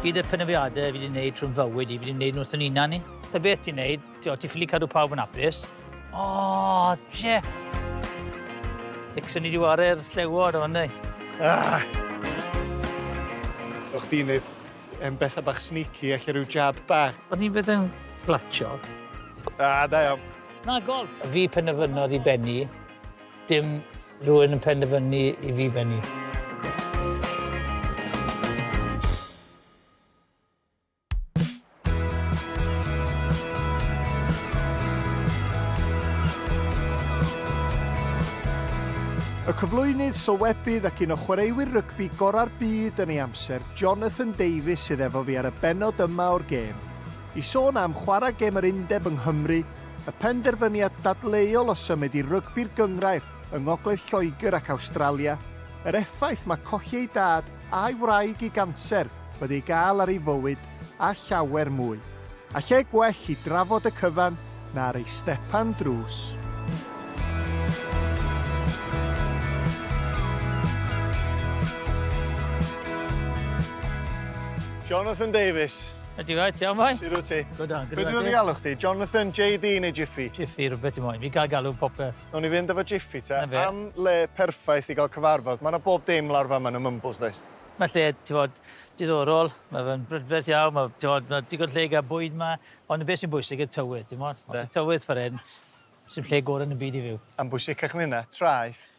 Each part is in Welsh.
Gyd y penafiadau fi wedi gwneud trwy'n fywyd i, fi wedi gwneud nhw wrth yn unan ni. Ta beth ti'n gwneud, ti'n ti ffili cadw pawb yn apus. O, oh, je! Dixon i wedi wario'r llewod o'n ei. Ah! O'ch ti'n gwneud um, bethau bach sneaky, allu rhyw jab bach. O'n i'n bydd yn glatio. Ah, da iawn. Na, golf. Fi pen y fynnodd i benni. Dim rhywun yn penderfynu i fi bennu. Y cyflwynydd, sylwebydd ac un o chwaraewyr rygbi gorau'r byd yn ei amser, Jonathan Davies sydd efo fi ar y benod yma o'r gêm. I sôn am chwarae gêm yr undeb yng Nghymru Y penderfyniad dadleuol o symud i rygbi'r gynghrair yng ngogledd Lloegr ac Awstralia, yr effaith mae colli ei dad a'i wraig i ganser wedi ei gael ar ei fywyd a llawer mwy. A lle gwell i drafod y cyfan na ar ei stepan drws? Jonathan Davies. Ydy rhaid, iawn fai? Sut wyt ti? Good on, good on. Beth dwi'n galw chdi? Jonathan, JD neu Jiffy? Jiffy, rhywbeth i moyn. Fi gael galw popeth. Nawn ni fynd efo Jiffy te. Am le perffaith i gael cyfarfod. Mae yna bob dim lawr fan yn y Mumbles, does? Mae lle, ti'n bod, diddorol. Mae fe'n brydferth iawn. Mae, ti'n bod, mae digon lle i gael bwyd yma. Ond beth sy'n bwysig yw tywydd, ti'n bod? Os yw tywydd fferin, sy'n lle gorau yn y byd i fyw. A'n bwysicach na hynna, traeth.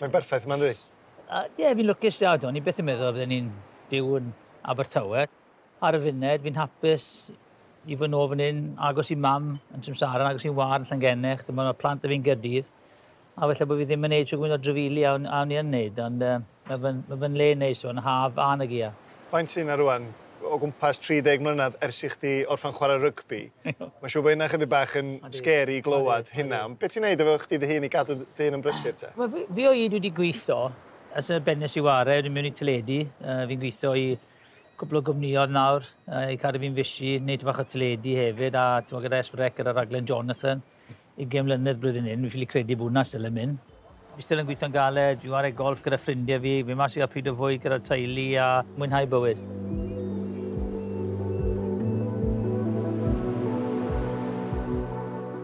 Mae'n berffaith yma yndi? A ie fi'n lwcus da t'mo' o'n i byth yn meddwl bydden i'n byw yn Abertawe. Ar y funud fi'n hapus i fod nôl fan 'yn agos i mam yn Tramsara agos i'n ward yn Llangennech t'mo' ma' plant 'da fi yn Gaerdydd a falle bo' fi ddim yn neud shwd gwin o drafili a o'n a o'n i yn neud ond yy ma' fe'n ma' fe'n le neis t'mo' yn y haf a yn y gia. Faint sy 'na rŵan? O gwmpas 30 mlynedd ers i chdi orffen chwarae rygbi. Mae'n siŵr bod hynna chydig bach yn scary i glywed hynna. Ond be' ti'n neud efo chdi dy hun i gadw dy hun yn brysur te? Wel fi fi o hyd wedi gweitho ers y bennes i ware o'n i mewn i teledu yy fi'n gweitho i cwpwl o gwmniodd nawr yy i cadw fi'n fishi neud ty' bach o teledu hefyd a t'mo' gyda Es Pedwa Ec gyda raglen Jonathan Ugain mlynedd blwyddyn hyn, fi ffili credu bod hwnna still yn mynd. Fi still yn gweithio'n galed, fi'n ware golff gyda ffrindie fi, fyn mas i ga'l pryd o fwyd gyda'r teulu a mwynhau bywyd.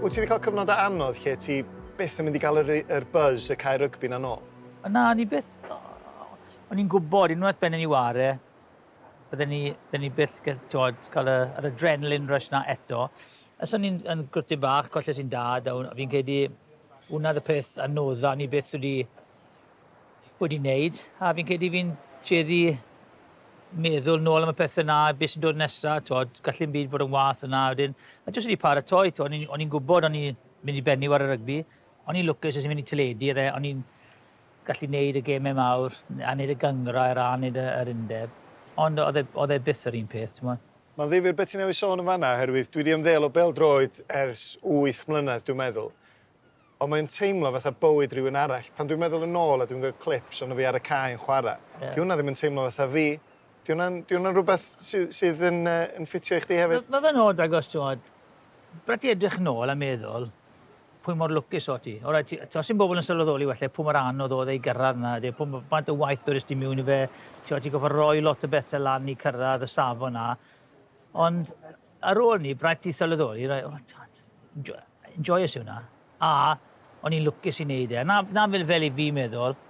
Wyt ti 'di cael cyfnodau anodd lle ti byth yn mynd i gael yr yr buzz y cae rygbi 'na nôl? Na, o'n i byth, o'n i'n gwbod unwaith bydden ni ware, bydden ni, bydden ni byth, t'wod, cael y, yr adrenaline rush 'na eto. Ers o'n i'n yn gwrtyn bach colles i'n dad a fi'n credu hwnna oedd y peth anodda o'n i byth wedi wedi neud a fi'n credu fi'n tueddu meddwl nôl am y pethau 'na a beth sy'n dod nesa t'wod gall dim byd fod yn wath yna a wedyn a jyst wedi paratoi t'wod o'n i'n o'n i'n gwbod o'n i mynd i bennu ar y rygbi o'n i'n lwcus es i'n mynd i teledu a fe o'n i'n gallu neud y gemau mawr a neud y gynghrair a neud y yr undeb ond oedd e oedd e byth yr un peth t'mod. Mae'n ddifyr be ti newydd sôn yn fanna oherwydd dwi 'di ymddeol o bêl-droed ers wyth mlynedd dwi'n meddwl, ond mae'n teimlo fatha bywyd rhywun arall. Pan dwi'n meddwl yn ôl a dwi'n gweld clips ohono fi ar y cae yn chwarae, 'di hwnna ddim yn teimlo fatha fi. 'Di hwnna'n 'di hwnna'n rhywbeth sy sydd yn yy yn ffitio i chdi hefyd? Ma' ma' fe'n od agos t'mod, pan ti edrych nôl a meddwl, pwy mor lwcus o ti. Alright, ti, os ti'n bobl yn sylweddoli wella pwy mor anodd oedd ei gyrraedd na, ydy, pwy, faint o waith dod ysdi miwn i fe, ti'n ti goffa roi lot o bethau lan i cyrraedd y safon na. Ond ar ôl ni, braet ti sylweddoli, rai, oh, tad, enjoy, enjoy yw na. A, o'n i'n lwcus i wneud e. Na, na fel, fel i fi meddwl,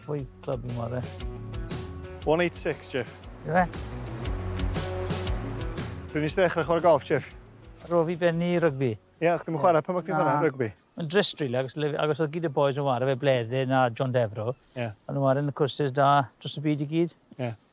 Fwy clyb i mor e. 186, Jeff. Ie. Pryd nes ddechrau chwarae golf, Jeff? Ar ôl fi benni rygbi. Ie, yeah, chdi'n chwarae pan o'ch ti'n chwarae rygbi? Mae'n drist rili, agos, agos oedd gyd y boys yn wario fe Bleddyn a John Defro. Yeah. Ond nhw'n wario yn y cwrsys da dros y byd i gyd. Yeah.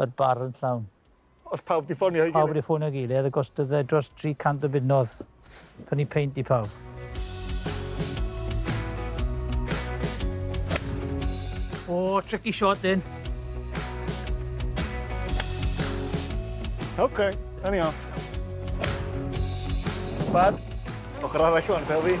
yr bar yn llawn. Os pawb 'di ffonio ei gilydd. Pawb wedi ffonio ei gilydd a gostodd e dros 300 o bunnodd prynu peint i pawb. O, tricky shot din. OK, da ni off. Bad. Ochr arall o'n bel fi.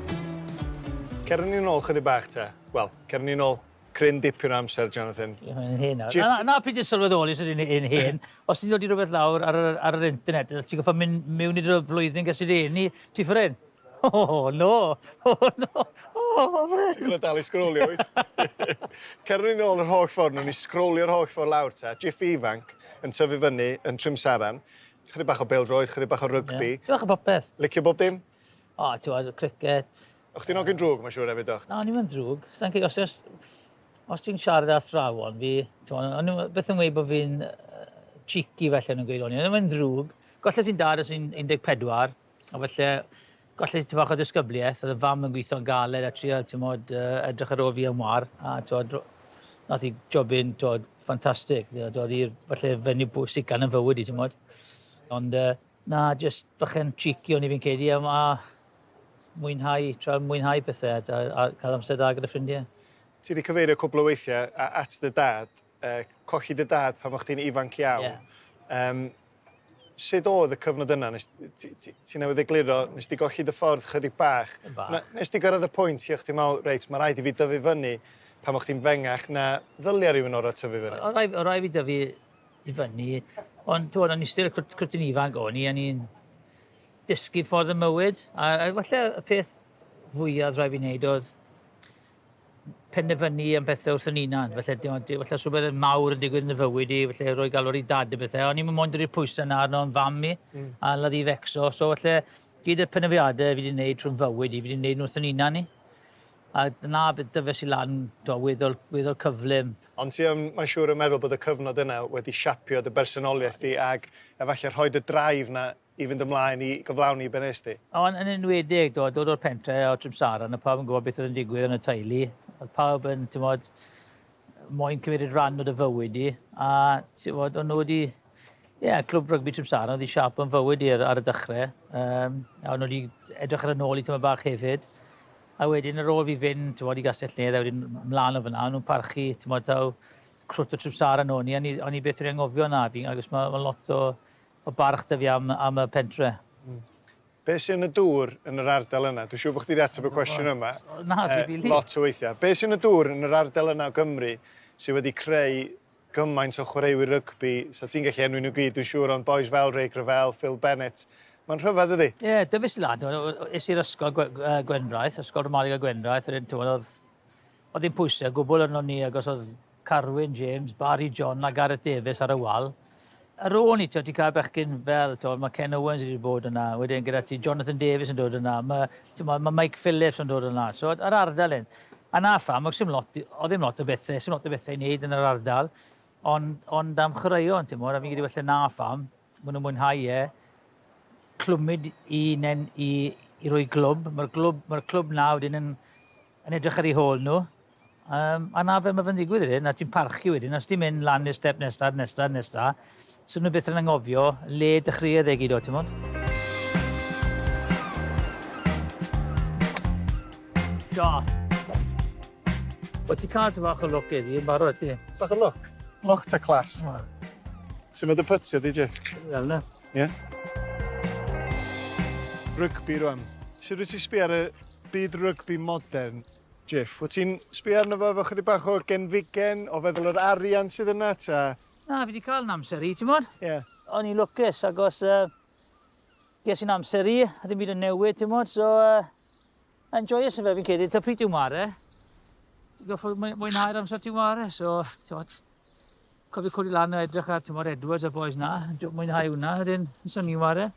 Cer â ni nôl chydig bach te. Wel, cer â ni nôl cryn dipyn o amser, Jonathan. Ie, mae'n hen nawr. Jyst- Na, na, fi jyst sylweddoli sut yn yn hen. Os ti'n dod i rwbeth lawr ar yr ar yr internet, ti'n gorffod mynd miwn i dy flwyddyn ges i dy eni, ti ffrin. O, no! O, no! O, ffrin! Ti gorfod dal i sgrolio wyt? Cer â ni nôl yr holl ffordd, newn ni sgrolio'r holl ffordd lawr te. Jiffy ifanc yn tyfu fyny yn Trimsaran. Chydig bach o bêl-droed, chydig bach o rygbi. Ie, tipyn bach o popeth. Licio bob dim? O, ti'n gwybod, y cricet... O chdi'n ogyn drwg, mae'n siŵr hefyd, doch? Na, ni'n mynd drwg. Sa'n cyd, os, os, os ti'n siarad â thrawon fi, o'n nhw beth yn gweud bod fi'n uh, cheeky felly nhw'n gweud o'n i'n mynd ddrwg. Golle ti'n dad os i'n 14, a felly golle ti'n bach o disgybliaeth, oedd y fam yn gweithio'n galed a trio tymod, uh, edrych ar ôl fi am war, a tymod, nath i jobyn tymod, ffantastig, dod i'r falle fenyw bwysig gan yn fywyd i tymod. Ond uh, Na, jyst bach yn cheeky o'n i fi'n credu a a mwynhau, trio mwynhau pethe a da- a cael amser da gyda ffrindie. Ti 'di cyfeirio cwpl o weithiau a- at dy dad, yy colli dy dad pan o'ch chdi'n ifanc iawn. Ie. Yym, sut o'dd y cyfnod yna? Nes- ti ti ti newydd egluro, nes di golli dy ffordd chydig bach. Yn bach. Na- nes di gyrraedd y pwynt lle o'ch chdi'n me'wl, reit, ma' raid i fi dyfu fyny pan o'ch chdi'n fengach na ddylia rywun orau tyfu fyny? O- o' rai' o' rai' fi dyfu i fyny. Ond t'mod o'n i still cwt cwt yn ifanc o'n i a ni'n dysgu ffordd y mywyd a a falle y peth fwyaf rhaid fi wneud oedd penderfynu am bethau wrth yn unan. Falle dim ond falle os rhywbeth mawr yn digwydd yn dy fywyd i, falle roi galw'r i dad a bethau. O'n i'm yn moyn dod i'r pwysau 'na arno yn fam i mm. a ladd i fecso. So falle gyd y penderfyniadau fi wedi wneud trwy'n fywyd i, fi wedi wneud nhw wrth yn unan i. A na, bydd dyfais i lan, t'mo, weddol, weddol cyflym. Ond ti yn, mae'n siŵr, yn meddwl bod y cyfnod yna wedi siapio dy bersonoliaeth di ac efallai rhoi dy drive 'na i fynd ymlaen i gyflawni i be wnest ti? O, yn, yn enwedig, t'mod, dod o'r pentre o Trimsaran, o'dd pawb yn gwbod beth oedd yn digwydd yn y teulu, o'dd pawb yn, t'mod, moyn cymryd rhan o dy fywyd di, a, t'mod, o'n nhw wedi Ie, yeah, clwb rygbi Trimsana oedd i siap yn fywyd i'r ar y dechrau. Um, a nhw wedi edrych ar y nôl i tyma bach hefyd. A wedyn yr ôl fi fynd, ti'n bod, i Gastell Nedd, a wedyn mlaen o fyna, nhw'n parchu, ti'n bod, taw crwt o Trimsana nhw. Ni, ni, o'n i beth wedi anghofio na, fi'n agos mae ma lot o, o barch da fi am, am y pentre. Mm. Be sy'n y dŵr yn yr ardal yna? Dwi'n siŵr bod chdi wedi ateb y cwestiwn yma. Na, uh, Lot o weithiau. Be sy'n y dŵr yn yr ardal yna o Gymru sydd wedi creu gymaint o chwaraewyr rygbi, 'sa ti'n gallu enwi nhw gyd dwi'n siŵr, ond bois fel Ray Gravell, Phil Bennett, mae'n rhyfedd dydi? Ie, dyfais i lan, t'mod, es i'r ysgol Gwendraeth, Ysgol Ramadeg y Gwendraeth, wedyn t'mod oedd oedd dim pwyse o gwbl arnon ni agos oedd Carwyn James, Barry John a Gareth Davies ar y wal. Ar ôl 'ny, ti'n gwybod, ti'n cael bechgyn fel, ti'n gwybod, mae Ken Owens wedi bod yna, wedyn gyda ti Jonathan Davies yn dod yna, mae, ti'n gwybod, mae Mike Phillips yn dod yna, ti'n gwybod, yr ardal hyn. A na pham, oedd ddim lot, oedd ddim lot o bethau, oedd ddim lot o bethau i wneud yn yr ardal, ond, ond am chwaraeon, ti'n gwybod, a fi'n credu falle na pham, maen nhw'n mwynhau e, clwmyd i, nen, i, i roi glwb, mae'r glwb, mae'r clwb na wedyn yn yn edrych ar eu hôl nhw, um, a na fe mae fe'n digwydd wedyn, a ti'n parchu wedyn, os ti'n mynd lan i'r step nesaf, nesaf, nesaf, so nhw beth yn angofio le dechreuodd e gyd o, ti'n mwyn? Sio. Wyt ti cael ti fach o look eddi, yn barod ti? Bach o look? Look ta clas. Sut mae dy pytio di, Jake? Fel na. Ie? Rygbi rwan. Sut wyt ti sbi ar y Byd rygbi modern. Jeff, wyt ti'n sbio arno fo efo chydig bach o genfigen o feddwl yr arian sydd yna ta? Na, fi 'di cael 'yn amser i, t'mod? Ie. O'n i'n lwcus agos yy ges i'n amser i, ddim byd yn newid t'mod so yy yn joyous yn fe fi'n credu, ta pryd ti'n ware, ti'n goffod mwy- mwynhau'r amser ti'n ware so t'mod. Cofiwch codi lan a edrych ar tymor Edwards a boys na. Dwi'n mwynhau hwnna. Yr un, sy'n ni'n ware.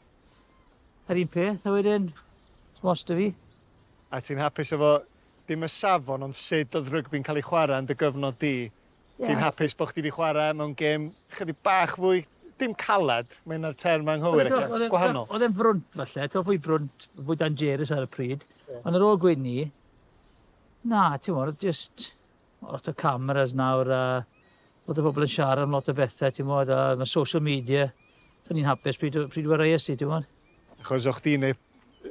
Yr un peth, a wedyn, smost y fi. A ti'n hapus efo dim y safon, ond sut oedd rygbi'n cael ei chwarae yn dy gyfnod di? Yeah. Ti'n hapus bod chdi wedi chwarae mewn gêm chydig bach fwy, dim caled, mae yna'r term anghywir, ac gwahanol. Oedd e'n frwnt falle, to fwy brwnt, fwy dangerus ar y pryd, yeah. ond ar ôl gwyn ni, na, ti'n mwyn, just Lot o cameras nawr a lot o bobl yn siarad am lot o bethau, ti'n modd, a mae social media. So ni'n hapus pryd, pryd o'r reis i, ti'n modd. Achos o'ch ti'n ei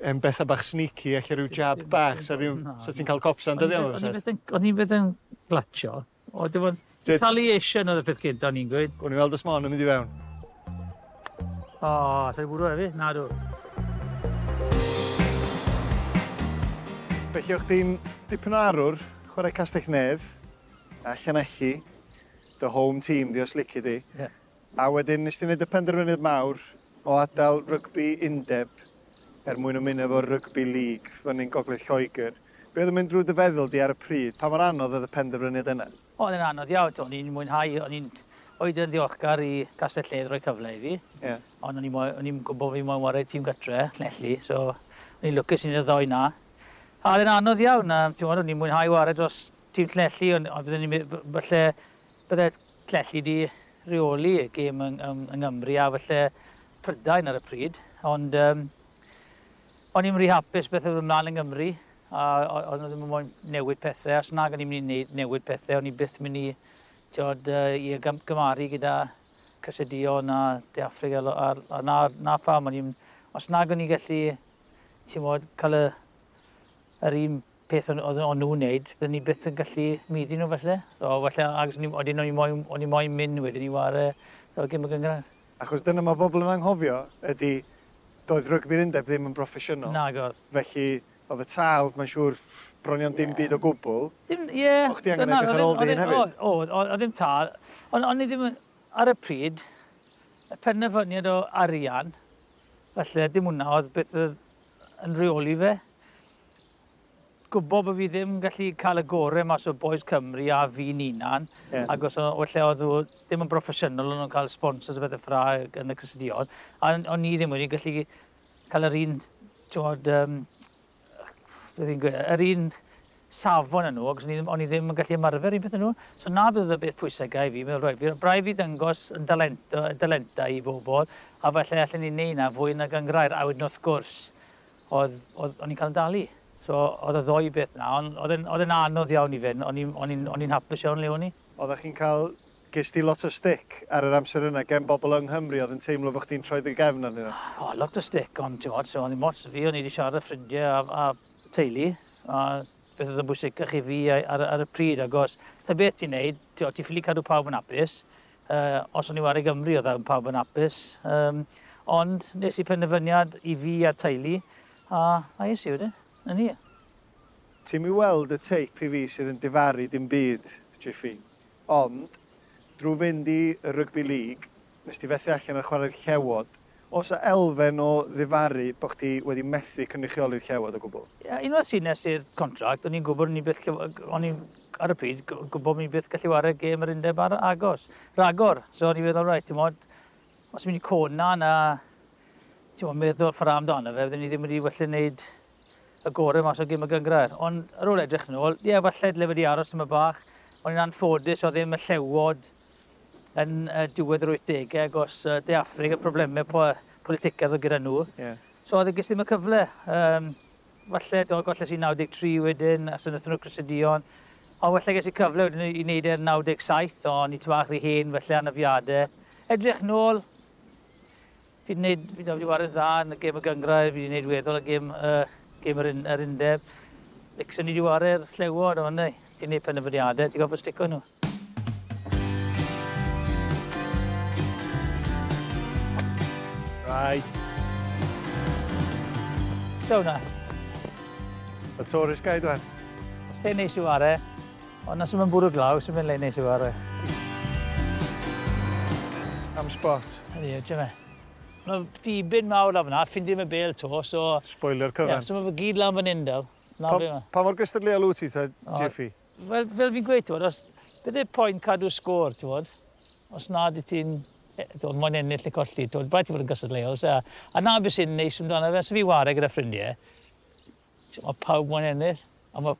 yn bethau bach sneaky, eich rhyw jab bach, sa, fiw, sa ti'n cael cops dyddi am yma? O'n i'n beth yn glatio. O, dim ond retaliation oedd y peth gyda, o'n i'n gweud. O'n i'n weld ysmon yn mynd i fewn. O, oh, sa'i bwrw efi? Na, dw. Felly, o'ch di'n dipyn o arwr, chwarae castell nedd, a llanelli, dy home team di os lici di. Yeah. A wedyn, nes ti'n gwneud y penderfyniad mawr o adael rygbi undeb er mwyn ymuno efo'r rygbi lig fan ni'n gogledd Lloegr. Be oedd yn mynd drwy dy feddwl di ar y pryd? Pa mor anodd oedd y penderfyniad yna? Oedd e'n anodd iawn, o'n i'n mwynhau, o'n i'n oed yn ddiolchgar i Castell Lledd roi cyfle i fi. Yeah. Ond o'n i'n gwybod bod fi moyn wario tîm gytre, Llanelli, so o'n i'n lwcus i'n y ddoi na. A oedd e'n anodd iawn, a ti'n o'n i'n mwynhau wario dros tîm Llanelli, ond on byddwn ni'n falle, bydde Llanelli di reoli y gêm yng, yng, yng Nghymru a falle Prydain ar y pryd, ond um, o'n i'n rhi hapus beth oedd ymlaen yng Nghymru, A o'n nhw ddim yn moyn newid pethau, os nag o'n i'n mynd i newid pethau, o'n i byth mynd i tiod, uh, i gymaru gyda Cysedio na De Affrig a, a, a na, na pham. O'n i'n, os nag o'n i'n gallu tiod, cael y, yr un peth o'n, o'n nhw'n neud, byddwn ni byth yn gallu myddi nhw felly. So, felly agos, o'n i'n moyn, o'n i'n moyn mynd wedyn i ware so, gym y gyngrair. Achos dyna mae pobl yn anghofio ydy, doedd rygbi'r undeb ddim yn broffesiynol. Nag oedd. Felly, oedd y tâl, mae'n siŵr, bron iawn dim byd o gwbl. Dim, ie. O'ch ti angen edrych ar ôl dy hun hefyd? Oedd, oedd ddim tâl. Ond o'n i ddim yn, ar y pryd, y penderfyniad o arian, falle dim hwnna oedd beth oedd yn reoli fe. gwybod bod fi ddim gallu cael y gore mas o Boys Cymru a fi'n unan. Yeah. Ac os o'n lle oedd ddim yn broffesiynol, o'n nhw'n cael sponsors o bethau ffra yn y cysylltiad. A o'n ni ddim wedi gallu cael yr un, ti'n um, yr un safon yn nhw, ac o'n i, ddim, i ddim yn gallu ymarfer un peth yn nhw. So na bydd y beth pwysau gael fi, meddwl rhaid fi, brau fi ddangos yn dalenta, dalenta i bobl, a falle allan ni'n neud na fwy na gangrair, a wedyn wrth gwrs, oedd, oedd, o'n i'n cael yn dalu. So, oedd y ddoi beth na, ond oedd e'n, oedd e'n anodd iawn i fe, o'n i'n, o'n i'n, o'n i'n hapus iawn le o'n i. Oeddach chi'n cael, ges ti lot o stick ar yr amser yna gen bobl yng Nghymru oedd yn teimlo bod chdi'n troi dy gefn arnyn nhw? O, lot o stick, ond ti'n modd, so, o'n i'n ots fi, o'n i wedi siarad â ffrindiau a, a teulu, a beth oedd yn bwysicach i fi ar, ar y pryd, agos, ta beth ti'n neud, ti'n ffili cadw pawb yn hapus, Yy, os o'n i war i Gymru, oedd e pawb yn apus. Um, ond nes i penderfyniad i fi a'r teulu, a, a es i wedyn. Yn ni. Ti'm i weld y teip i fi sydd yn difaru dim byd, Jiffy. Ond, drwy fynd i y Rugby League, nes ti fethu allan ar chwarae'r Llewod, Oes 'na elfen o ddifaru bod chdi wedi methu cynrychioli'r llewod o gwbl? Ie, unwaith ti nes i'r contract, o'n i'n gwybod o'n i byth lle- o'n i ar y pryd g- gwybod o'n i byth gallu wario gêm yr undeb ar agos, ragor. So o'n i feddwl, reit, ti'n modd, os mynd i cod na, na, ti'n modd, meddwl ffra amdano fe, fydden ni ddim wedi well yn neud y gore mas o gêm y gyngrair. Ond ar ôl edrych yn ôl, ie, falle dyle wedi aros yma bach. O'n i'n anffodus, oedd ddim y llewod yn y diwedd yr 80au agos uh, De Affrig a problemau po politicaidd o gyda nhw. Yeah. So oedd e gysyn ddim y cyfle. Um, falle, do, golle sy'n 93 wedyn, a sy'n ystod nhw Crysydion. Ond falle ges i cyfle wedyn i wneud e'r 97, ond i ti fach rhy hen, falle anafiadau. Edrych nôl, Fi 'di neud, fi wedi wario dda yn y gêm y gyngrair, fi wedi neud weddol y gêm, uh, gêm yr, yr undeb. Nixon ni wedi wario'r llewod, ond ei, ti'n neud penderfyniadau, ti'n gofio stico nhw. Right. Siaw na. Y tourist guide wan. Te neis i ware. Ond os mae'n bwrw glaw, sy'n mynd le neis i fawr e. Am spot. Ydy, ydy e. Mae dibyn mawr lawr fyna, ffind ddim y bel to, so... Spoilio'r cyfan. Ie, so mae fe gyd lawr fan hyn daw. Pa, pa mor gystadleuol wyt ti, ta, Jeffy? Wel, fel fi'n gweud, ti'n os... Beth yw'r pwynt cadw sgôr, ti'n Os nad i ti'n... E, ti'n moyn ennill neu colli, ti'n rhaid ti fod yn gystadleuol. So, a na beth sy'n neis amdano fe, sy'n fi ware gyda ffrindiau, ti'n pawb moyn ennill, a mae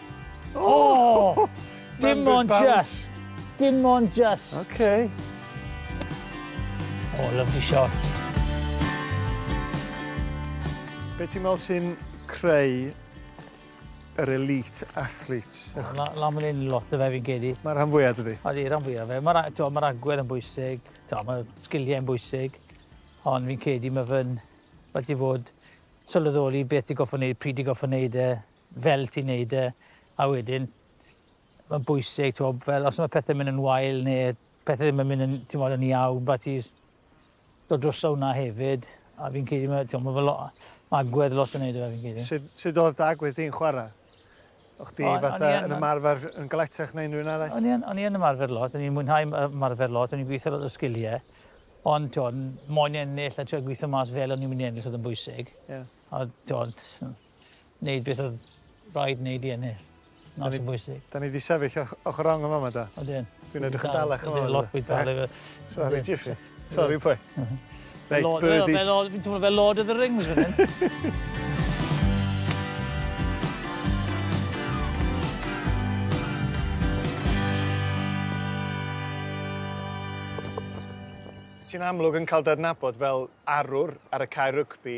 Oh! Dim ond just. Dim ond just. Okay. Oh, lovely shot. Be ti'n meddwl sy'n creu yr elite athletes? Na, na mae'n un lot o fe fi'n gedi. Mae'r rhan fwyaf dydy? Odi, rhan fwyaf fe. Mae'r ma agwedd yn bwysig, mae'r sgiliau yn bwysig, ond fi'n cedi mae fy'n wedi fod sylweddoli beth i goffo wneud, pryd i goffo wneud e, fel ti'n neud e a wedyn ma'n bwysig t'mo' fel os ma' pethe'n myn' yn wael ne' pethe ddim yn myn' yn t'mod yn iawn ma' ti js dod droso wnna hefyd a fi'n credu ma' t'mo' ma' fe lo- ma' agwedd lot yn neud o fe fi'n credu. Sud sud odd dy agwedd di'n chwara'? O' chdi O- o'n i fatha yn yn ymarfer yn galetach na unrywun arall? O'n i yn o'n i yn ymarfer lot o'n i'n mwynhau m- yy ymarfer lot o'n i'n gwitho lot o sgilie ond t'wod moyn ennill a trio gwitho mas fel o'n i'n myn' i ennill o'dd yn bwysig. Ie. A t'wod Wneud beth oedd rhaid wneud i ennill. Not yn bwysig. Da ni wedi sefyll ochr rong yma yma da. Ydyn. Dwi'n edrych yn dalach yma. Ydyn, lot bwyd dal efo. Sorry, Jiffy. Sorry, pwy. Reit, birdies. Fi'n teimlo fel Lord of the Rings fan hyn. Ti'n amlwg yn cael dy adnabod fel arwr ar y cae rygbi.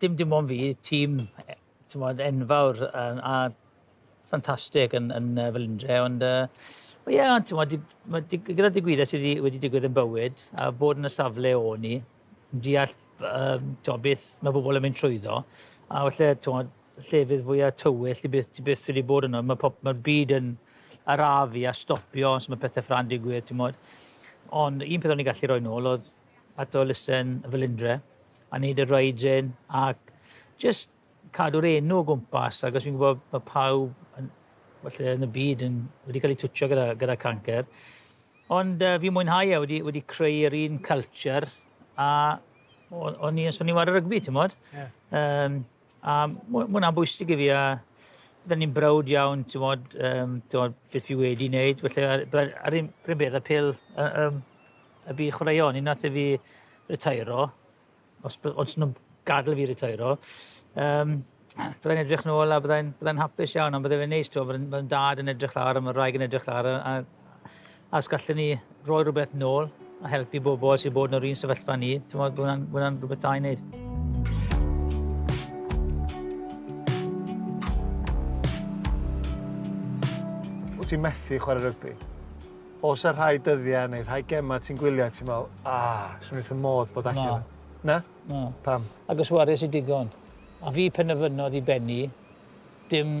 Dim dim ond fi, tîm e- t'mod enfawr yym a ffantastig yn yn yy Felindre ond yy wel ie ond t'mod di- ma' di- gyda'r digwyddiad sy' 'di wedi digwydd yn bywyd a bod yn y safle o'n i, yn deall b- yym t'mo' beth ma' bobol yn mynd trwyddo a falle t'mod llefydd fwya tywyll ti byth ti byth wedi bod yno ma' pob- ma'r byd yn arafu a stopio os ma' pethe ffela'n digwydd t'mod. Ond un peth o'n i'n gallu roi nôl o'dd at elusen y Felindre a neud yr oedrin ac jyst cadw'r enw o gwmpas ac os fi'n gwybod bod pawb yn, falle yn y byd yn, wedi cael ei twtio gyda, gyda cancer. Ond uh, fi'n mwynhau e, wedi, wedi creu'r un culture a o'n i, o'n i'n wario rygbi, ti'n modd? Yeah. Um, A mae hwnna'n bwysig i fi a byddwn ni'n browd iawn, ti'n modd, um, ti'n beth fi wedi wneud. Felly, ar, ar un pryd beth, y pil y, um, y bu chwaraeon, un nath i fi retairo, os, os nhw'n gadael fi retairo, um, byddai'n edrych nôl a byddai'n byddai hapus iawn, ond byddai'n neis, ti'n byddai'n dad yn edrych lawr, a mae'r rhaeg yn edrych lawr, a, a A os gallen ni roi rhywbeth nôl a helpu bobl sydd bod yn yr un sefyllfa ni, timod, bod hwnna'n, hwnna rhywbeth da i wneud. Wyt ti'n methu chwarae rygbi? Os ar rhai dyddiau neu rhai gemau ti'n gwylio, ti'n meddwl, ah, swn i'n modd bod allan. Na. Na? Na. Pam? Ac os wares i digon. A fi penderfynodd i benni, dim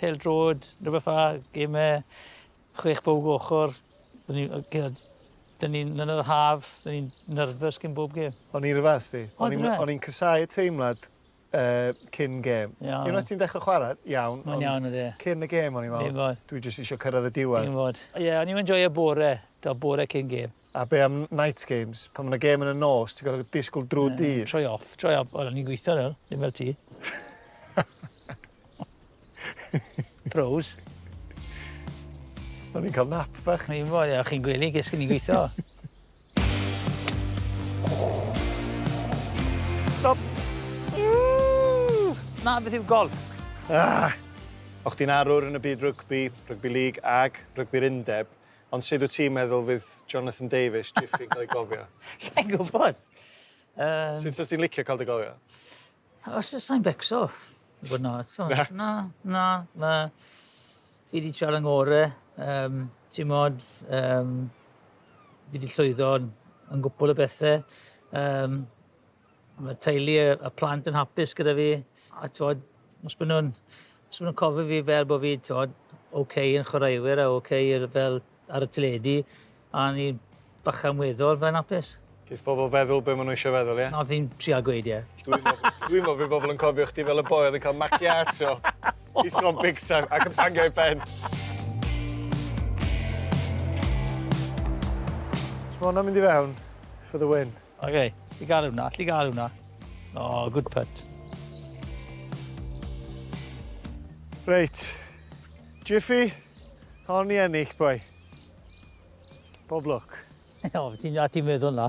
Pêl drod, rhywbeth fa, gemau, chwech bowg ochr. Dyn ni, dyn ni yn yr haf, dyn ni'n nerfus gyn bob gem. O'n i rhywbeth, di. O'n i'n cysau y teimlad uh, cyn gem. Yeah. Unwaith ti'n dechrau chwarae, iawn. Mae'n iawn ydy. Cyn y gem o'n i'n meddwl, dwi jyst eisiau cyrraedd y diwedd. Ie, yeah, o'n i'n enjoy y bore, da bore cyn gem. A be am night games? Pan mae yna gêm yn y nos, ti'n gorfod disgwyl drwy'r dydd. Troi off, troi off. Wel, o'n i'n gweithio nawr, ddim fel ti. Pros. O'n i'n cael nap fach. O'n i'n fawr, ia, chi'n gwylio, ges i'n gweithio. Stop! Na, beth yw golf? Ah! O'ch ti'n arwr yn y byd rygbi, rygbi lig ac rygbi'r undeb, Ond sut wyt ti'n meddwl fydd Jonathan Davies, Jiffy, yn cael ei gofio? Sa i'n gwybod. Yym... Sut sa ti'n licio cael dy gofio? Os sa i'n becso, i fod yn onest. Na? Na, na, na. Fi 'di trial 'y ngore, yym, t'mod, yym, fi 'di llwyddo yn yn gwpwl o bethe, yym, Mae teulu y, y plant yn hapus gyda fi. A tywod, os maen nhw'n os nhw cofio fi fel bod fi, tywod, oce okay yn chwaraewyr a oce okay fel ar y teledu, a ni bachan weddol fe'n hapus. Bydd pobl feddwl be maen nhw eisiau feddwl, ie? Yeah? Na, fi'n trial gweud, ie. Yeah. Dwi'n meddwl, dwi meddwl bydd pobl yn cofio chdi fel y boi oedd yn cael macchiato. He's gone big time ac yn bangio i ben. Mae hwnna'n mynd i fewn for the win. OK, allu gael hwnna, allu gael hwnna. O, oh, good putt. Reit, Jiffy, hon ni ennill, boi. Bob lwc. o, ti'n dda ti'n meddwl na.